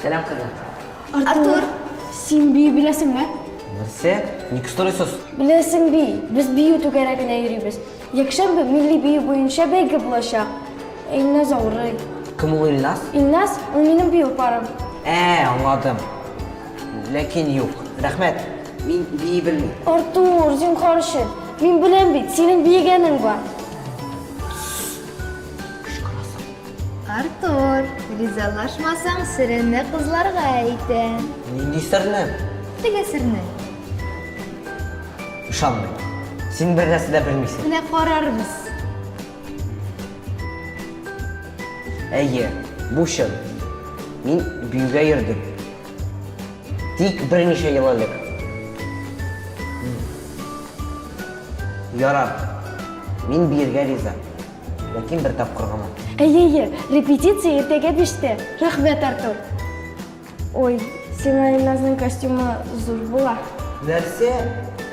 Сәлам, кызым. Артур, син бию беләсеңме? Нәрсә? Ник сорыйсыз? Беләсең би, без бию түгәрәгенә йөрибез. Якшәмбе милли бию буенча бәйге булачак. Илназ авырый. Кем ул Илназ? Илназ, ул минем бию парым. Ә, аңладым. Ләкин юк. Рәхмәт. Мин бии белмим. Артур, зинхар өчен. Мин беләм бит, синең биегәнең бар. Артур, ризалашмасаң, серемне кызларга әйтәм. Нинди серне? Теге серне. Ышанмыйм. Син бер нәрсә дә белмисең. Менә карарбыз. Әйе, бу чын. Мин биюгә йөрдем. Тик берничә ел элек. Ярар. Мин биергә риза. Ләкин бер тапкыр гына. Әйе, әйе, репетиция иртәгә биштә. Рәхмәт, Артур. Ой, сиңа Илназның костюмы зур була. Нәрсә?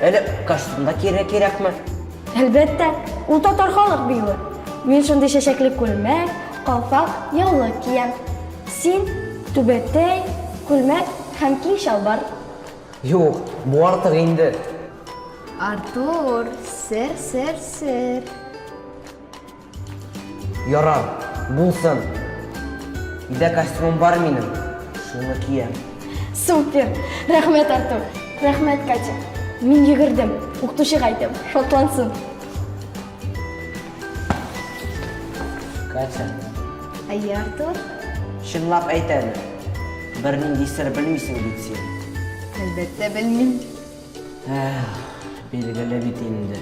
Әле костюмда кире кирәкме? Әлбәттә, ул татар халык биюе. Мин шундый чәчәкле күлмәк, калфак, яулык киям. Син түбәтәй, күлмәк һәм киң чалбар. Юк, бу артык инде. Артур, сер, сер, сер. Ярар, булсын. Өйдә костюмым бар минем, шуны киям. Супер! Рәхмәт, Артур! Рәхмәт, Катя! Мин йөгердем, укытучыга әйтәм, шатлансын. Катя, Әйе, Артур? чынлап әйт әле. Бернинди сер белмисең бит син. Әлбәттә, белмим. Эх, билгеле бит инде.